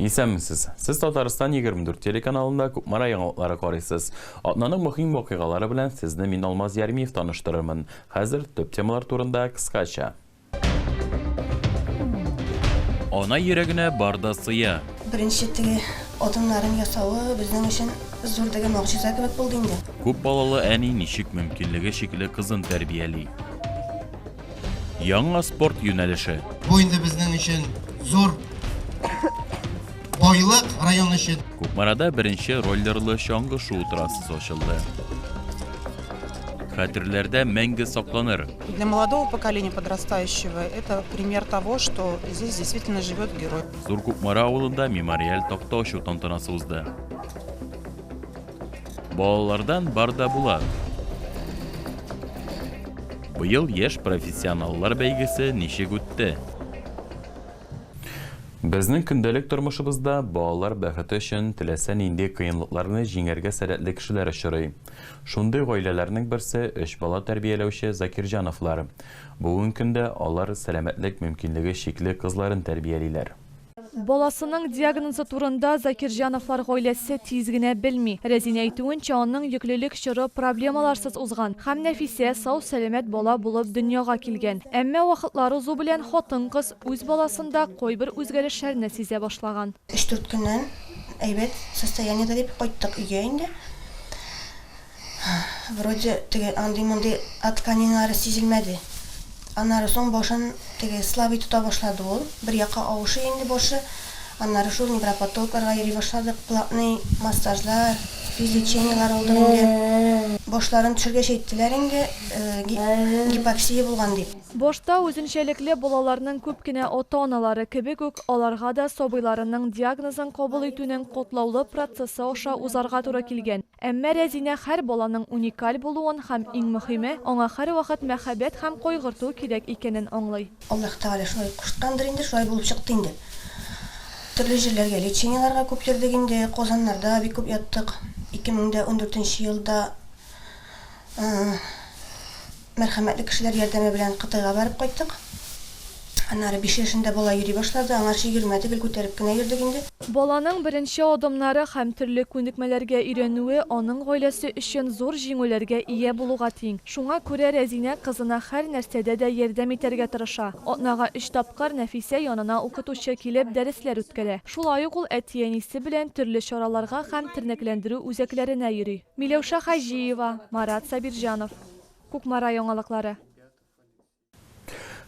Исәнмесез! Сез Татарстан 24 телеканалында Кукмара яңалыклары карыйсыз. Атнаның мөһим вакыйгалары белән сезне мин Алмаз Ярмиев таныштырырмын. Хәзер төп темалар турында кыскача. Ана йөрәгенә бар да сыя. Беренче теге адымнарын ясавы безнең өчен зур теге могҗиза кебек булды инде. Күп балалы әни ничек мөмкинлеге чикле кызын тәрбияли? Яңа спорт юнәлеше. Бу инде безнең өчен зур байлык район өчен. Кукмарада беренче роллерлы чаңгы шуу трассасы ачылды. Хәтерләрдә мәңге сакланыр. Для молодого поколения подрастающего это пример того, что здесь действительно живет герой. Зур Кукмара авылында мемориаль такта ачу тантанасы узды. Балалардан бар да була. Быел яшь профессионаллар бәйгесе ничек үтте? Безнең көндәлек тормышыбызда балалар бәхете өчен теләсә нинди кыенлыкларны җиңәргә сәләтле кешеләр очрый. Шундый гаиләләрнең берсе, өч бала тәрбияләүче Закирҗановлар. Бүген көндә алар сәламәтлек мөмкинлеге чикле кызларын тәрбиялиләр. Баласының диагнозы турында Закирҗановлар гаиләсе тиз генә белми. Рәзинә әйтүенчә, аның йөклелек чоры проблемаларсыз узган һәм Нәфисә сау-сәламәт бала булып дөньяга килгән. Әмма вакытлар узу белән хатын-кыз үз баласында кайбер үзгәрешләрне сизә башлаган. Өч-дүрт көннән әйбәт состояниедә дип кайттык өйгә инде. Вроде теге андый-мондый отканиналары сизелмәде. Аннары соң башын теге слабый тота башлады ул. Бер якка авышый инде башы. Аннары шул невропатологларга йөри башладык. Платный массажлар, физлечениеләр алдык инде. Башларын төшергәч әйттеләр инде, гипоксия булган дип. Башта үзенчәлекле балаларның күп кенә ата-аналары кебек үк, аларга да сабыйларының диагнозын кабул итүнең катлаулы процессы аша узарга туры килгән. Әмма Рәзинә һәр баланың уникаль булуын һәм, иң мөхиме, аңа һәрвакыт мәхәббәт һәм кайгырту кирәк икәнен аңлый. Аллаһ Тәгалә шулай кушкандыр инде, шулай булып чыкты инде. Төрле җирләргә лечениеларга күп йөрдек инде, Казаннарда бик күп яттык. 2014 нче елда Мәрхәмәтле кешеләр ярдәме белән Кытайга барып кайттык. Аннары биш яшендә бала йөри башлады, аңарчы йөрмәде, гел күтәреп кенә йөрдек инде. Баланың беренче адымнары һәм төрле күнекмәләргә өйрәнүе аның гаиләсе өчен зур җиңүләргә ия булуга тиң. Шуңа күрә Рәзинә кызына һәр нәрсәдә дә ярдәм итәргә тырыша. Атнага өч тапкыр Нәфисә янына укытучы килеп дәресләр үткәрә. Шулай ук ул әти-әнисе белән төрле чараларга һәм тернәкләндерү үзәкләренә йөри. Миләүшә Хаҗиева, Марат Сабирҗанов. Кукмара яңалыклары.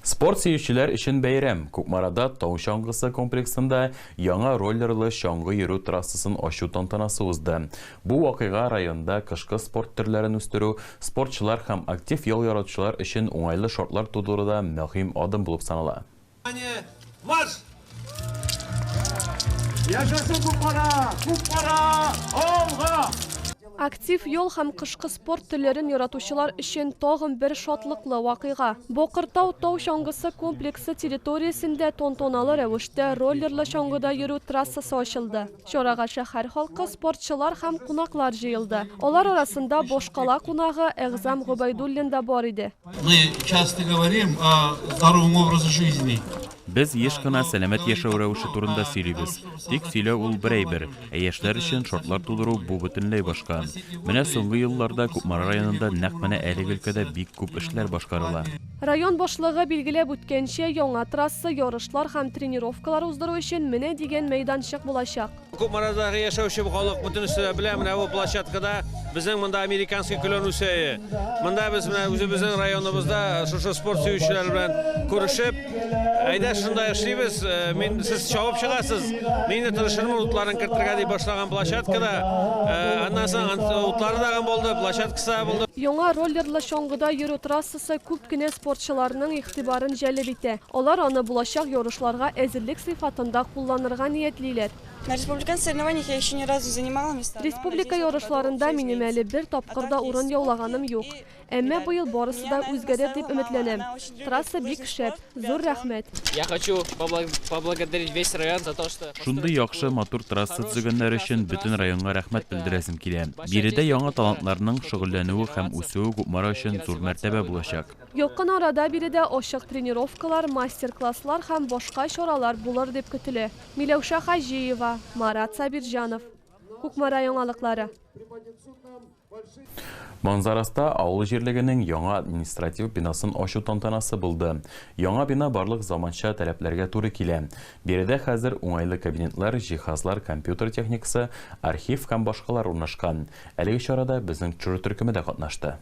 Спорт сөючеләр өчен бәйрәм. Кукмарада Тау чаңгысы комплексында яңа роллерлы чаңгы йөрү трассасын ачу тантанасы узды. Бу вакыйга районда кышкы спорт төрләрен үстерү, спортчылар һәм актив ял яратучылар өчен уңайлы шартлар тудыруда мөһим адым булып санала. Внимание, марш! Яшәсен Кукмара! Кукмара! Алга! Актив йол һәм кышкы спорт төрләрен яратучылар өчен тагын бер шатлыклы вакыйга. Бокыртау тау чаңгысы комплексы территориясендә тонтоналы рәвештә роллерлы чаңгыда йөрү трассасы ачылды. Чарага шәһәр халкы, спортчылар һәм кунаклар җыелды. Алар арасында башкала кунагы Әгъзам Гобәйдуллин да бар иде. Мы часто говорим о здоровом образе жизни. Без еш кына сәламәт яшәү рәвеше турында сөйлибез. Тик сөйләү ул бер әйбер, ә яшьләр өчен шартлар тудыру бу бөтенләй башка. Менә соңгы елларда Кукмара районында нәкъ менә әлеге өлкәдә бик күп эшләр башкарыла. Район башлыгы билгеләп үткәнчә, яңа трасса ярышлар һәм тренировкалар уздыру өчен менә дигән мәйданчык булачак. Кукмарадагы яшәүче халык бөтенесе дә белә, менә бу площадкада безнең монда американский клен үсәе. Монда без менә үзебезнең районыбызда шушы спорт сөючеләр белән күрешеп, әйдә шунда эшлибез, мин, сез чабып чыгасыз, мин дә тырышырмын утларын кертергә дип башлаган площадкада, аннан соң утлары тагын булды, площадкасы да булды. Яңа роллерлы чаңгыда йөрү трассасы. Барысы күп кенә спортчыларның игътибарын җәлеп итә. Алар аны булачак ярышларга әзерлек сыйфатында кулланырга ниятлиләр. На республиканских соревнованиях я еще ни разу не занимала места, но надеюсь, в этом году Республика ярышларында минем әле бер тапкыр да урын яулаганым юк. Әмма быел барысы да үзгәрер дип өметләнәм. Трасса бик шәп. Зур рәхмәт! Я хочу поблагодарить весь район за то, что... Шундый яхшы, матур трасса төзегәннәр өчен бөтен районга рәхмәт белдерәсем килә. Биредә яңа талантларның шөгыльләнүе һәм үсүе Кукмара өчен зур мәртәбә булачак. Якын арада биредә ачык тренировкалар, мастер-класслар һәм башка чаралар булыр дип көтелә. Миләүшә Хаҗиева, Марат Сабирҗанов. Кукмара яңалыклары. Манзараста авыл җирлегенең яңа административ бинасын ачу тантанасы булды. Яңа бина барлык заманча таләпләргә туры килә. Биредә хәзер уңайлы кабинетлар, җиһазлар, компьютер техникасы, архив һәм башкалар урнашкан. Әлеге чарада безнең чор төркеме дә катнашты.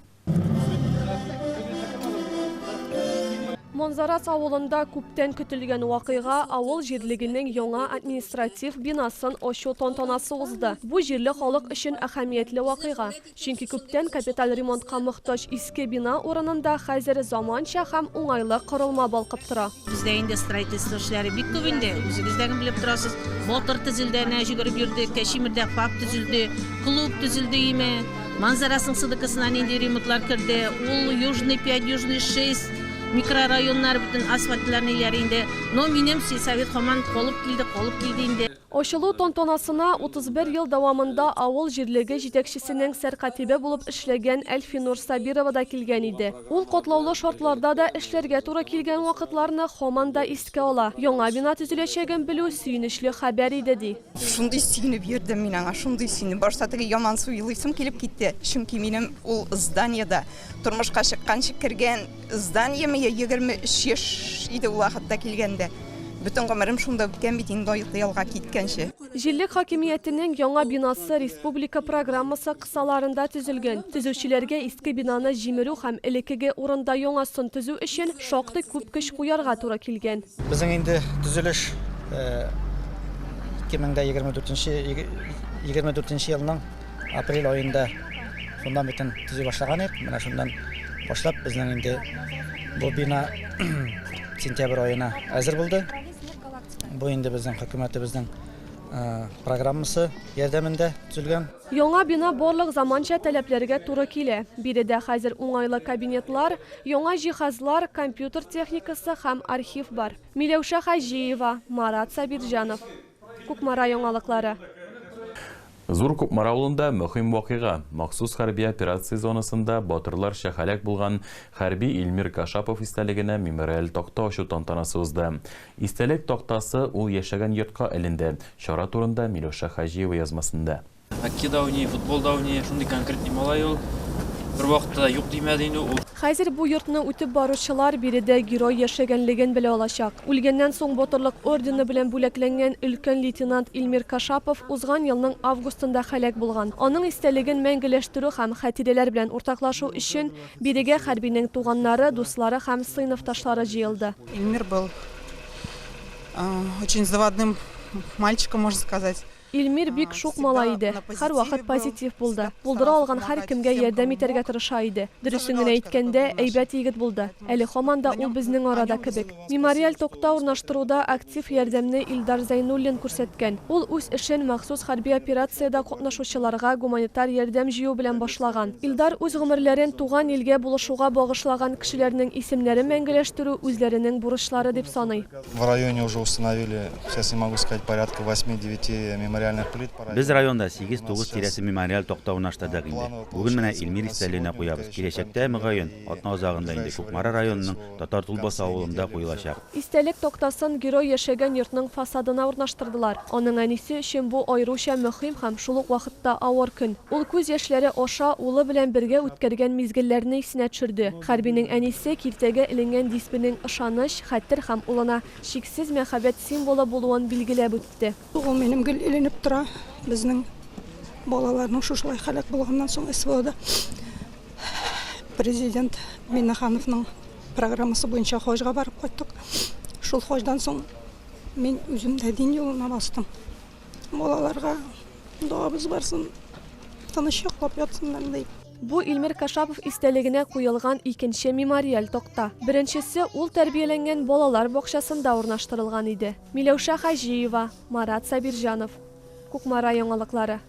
Монзарас авылында күптән көтелгән вакыйга, авыл җирлегенең яңа административ бинасын ачу тантанасы узды. Бу җирле халык өчен әһәмиятле вакыйга. Чөнки күптән капиталь ремонтка мохтаҗ иске бина урынында хәзер заманча һәм уңайлы корылма балкып тора. Бездә инде строительство эшләре бик күп инде, үзегез дә белеп торасыз. Батыр төзелде, әнә йөгереп йөрдек, Тәчимердә ФАП төзелде, клуб төзелде име. Манзарасының сыдыкысына нинди ремонтлар керде? Ул Южный 5, Южный 6 микрорайоннар бөтен асфальтларны иярә инде. Но минем сельсовет хаман колып килде, колып килде инде. Ачылу тантанасына 31 ел дәвамында авыл җирлеге җитәкчесенең сәркатибе булып эшләгән Әлфинур Сабирова да килгән иде. Ул катлаулы шартларда да эшләргә туры килгән вакытларны хаман да искә ала. Яңа бина төзеләчәген белү сөенечле хәбәр иде, ди. Шундый сөенеп йөрдем мин аңа, шундый сөенеп. Башта теге яман су елыйсым килеп китте. Чөнки минем ул зданиеда тормышка чыкканчы кергән зданиеме я 23 яшь иде ул вакытта килгәндә. Бөтен гомерем шунда үткән бит инде Яңа бинасы республика программасы Саларында төзелгән. Төзүчеләргә иске бинаны җимерү һәм элеккеге урында яңасын төзү өчен шактый күп көч куярга туры килгән. Безнең инде төзелеш 2024 нче елның апрель аенда фундаментын төзи башлаган идек. Менә шуннан башлап безнең инде бу бина сентябрь аена әзер булды. Бу инде безнең хөкүмәтебезнең программасы ярдәмендә төзелгән. Яңа бина барлык заманча таләпләргә туры килә. Биредә хәзер уңайлы кабинетлар, яңа җиһазлар, компьютер техникасы һәм архив бар. Миләүшә Хаҗиева, Марат Сабирҗанов. Кукмара яңалыклары. Зур Кукмара авылында мөһим вакыйга, махсус хәрби операция зонасында батырларча һәлак булган хәрби Илмир Кашапов истәлегенә мемориаль такта ачу тантанасы узды. Истәлек тактасы ул яшәгән йортка эленде. Чара турында Миләүшә Хаҗиева язмасында. Хоккей да уйный, футбол да уйный, шундый конкретный малай ул. Бервакытта да юк димәде инде ул. Хәзер бу йортны үтеп баручылар биредә герой яшәгәнлеген белә алачак. Үлгәннән соң Батырлык ордены белән бүләкләнгән өлкән лейтенант Илмир Кашапов узган елның августында һәлак булган. Аның истәлеген мәңгеләштерү һәм хатирәләр белән уртаклашу өчен Бирегә хәрбинең туганнары, дуслары һәм сыйныфташлары җыелды. Илмир был очень заводным мальчиком, можно сказать. Илмир бик шук малай иде, һәрвакыт позитив булды. Булдыра алган һәркемгә ярдәм итәргә тырыша иде. Дөресен генә әйткәндә, әйбәт егет булды. Әле һаман да ул безнең арада кебек. Мемориаль токта урнаштыруда актив ярдәмне Илдар Зәйнуллин күрсәткән. Ул үз эшен махсус хәрби операциядә катнашучыларга гуманитар ярдәм җыю белән башлаган. Илдар үз гомерләрен туган илгә булышуга багышлаган кешеләрнең исемнәрен мәңгеләштерү үзләренең бурычлары дип саный. В районе уже установили, сейчас не могу сказать, порядка восьми-девяти мемориальных плит по району. Без районда сигез-тугыз тирәсе мемориаль токта урнаштырдык инде. Бүген менә Илмир истәлегенә куябыз. Киләчәктә, мөгаен, атна азагында инде Кукмара районының Татар Тулбасы авылында куелачак. Истәлек тактасын герой яшәгән йортның фасадына урнаштырдылар. Аның әнисе өчен бу аеруча мөһим һәм шул ук вакытта авыр көн. Ул күз яшьләре аша улы белән бергә үткәргән мизгелләрне исенә төшерде. Хәрбинең әнисе киртәгә эленгән дисбенең ышаныч, хәтер һәм улына чиксез мәхәббәт символы булуын билгеләп үтте. Ул минем гел эленеп тора. Безнең балаларның шушылай халәт булганнан соң СВОда президент Миннахановның программасы буенча хаҗга барып кайттык. Шул хаҗдан соң мин үзем дә дин юлына бастым. Балаларга догабыз барсын, тыныч йоклап ятсыннар дип. Бу Илмир Кашапов истәлегенә куелган икенче мемориаль такта. Беренчесе ул тәрбияләнгән балалар бакчасында урнаштырылган иде. Миләүшә Хаҗиева, Марат Сабирҗанов. Кукмара яңалыклары.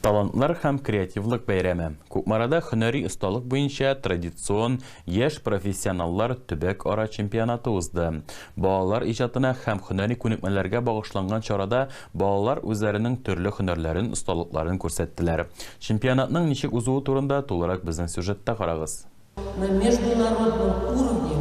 Талантлар һәм креативлык бәйрәме, Кукмарада һөнәри осталык буенча традицион Яшь профессионаллар төбәк-ара чемпионаты узды. Балалар иҗатына һәм һөнәри күнекмәләргә багышланган чарада балалар үзләренең төрле һөнәрләрен, осталыкларын күрсәттеләр. Чемпионатның ничек узуы турында тулырак безнең сюжетта карагыз. На международном уровне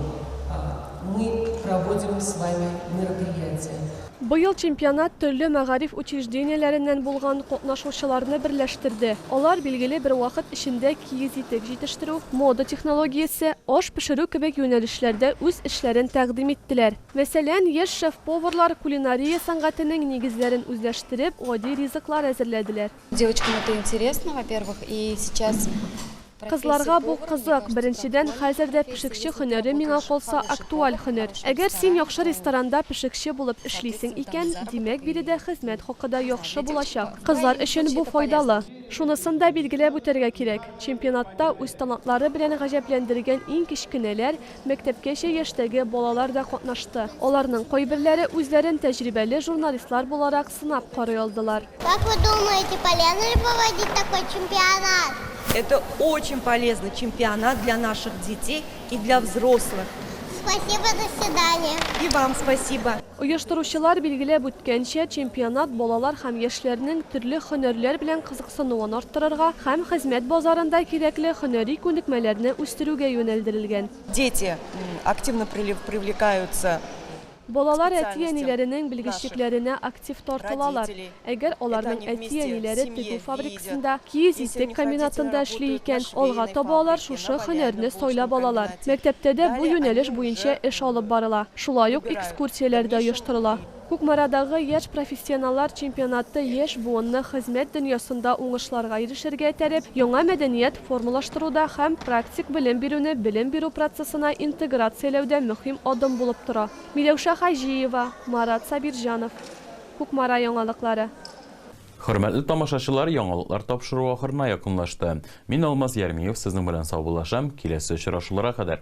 мы проводим с вами мероприятия. Быел чемпионат төрле мәгариф учреждениеләреннән булган катнашучыларны берләштерде. Алар билгеле бер вакыт эчендә киез итек җитештерү, мода технологиясе, аш пешерү кебек юнәлешләрдә үз эшләрен тәкъдим иттеләр. Мәсәлән, яшь шеф-поварлар кулинария сәнгатенең нигезләрен үзләштереп, гади ризыклар әзерләделәр. Девочкам это интересно, во-первых, и сейчас. Кызларга бу кызык, беренчедән, хәзер дә пешекче хөнәре миңа калса актуаль хөнәр. Әгәр син яхшы ресторанда пешекче булып эшлисең икән, димәк биредә хезмәт хакы да яхшы булачак. Кызлар өчен бу файдалы. Шунысын да билгеләп үтәргә кирәк, чемпионатта үз талантлары белән гаҗәпләндергән иң кечкенәләр, Мәктәпкәчә яшьтәге балалар да катнашты. Аларның кайберләре үзләрен тәҗрибәле журналистлар буларак сынап карый алдылар. Как вы думаете, полезно ли проводить такой чемпионат? Это очень полезный чемпионат для наших детей и для взрослых. Спасибо, до свидания. И вам спасибо. Оештыручылар билгеләп үткәнчә, чемпионат балалар һәм яшьләрнең төрле һөнәрләр белән кызыксынуын арттырырга һәм хезмәт базарында кирәкле һөнәри күнекмәләрне үстерүгә юнәлдерелгән. Дети активно привлекаются к специальностям наших родителей. Балалар әти-әниләренең белгечлекләренә актив тартылалар. Әгәр аларның әти-әниләре тегү фабрикасында, киез итек комбинатында эшли икән, алга таба алар шушы һөнәрне сайлап алалар. Мәктәптә дә бу юнәлеш буенча эш алып барыла. Шулай ук экскурсияләр дә оештырыла. Кукмарадагы Яшь профессионаллар чемпионаты яшь буынны хезмәт дөньясында уңышларга ирешергә этәреп, яңа мәдәният формалаштыруда һәм практик белем бирүне белем бирү процессына интеграцияләүдә мөһим адым булып тора. Миләүшә Хаҗиева, Марат Сабирҗанов. Кукмара яңалыклары. Хөрмәтле тамашачылар, яңалыклар тапшыру ахырына якынлашты. Мин Алмаз Ярмиев сезнең белән саубуллашам, киләсе очрашулара кадәр.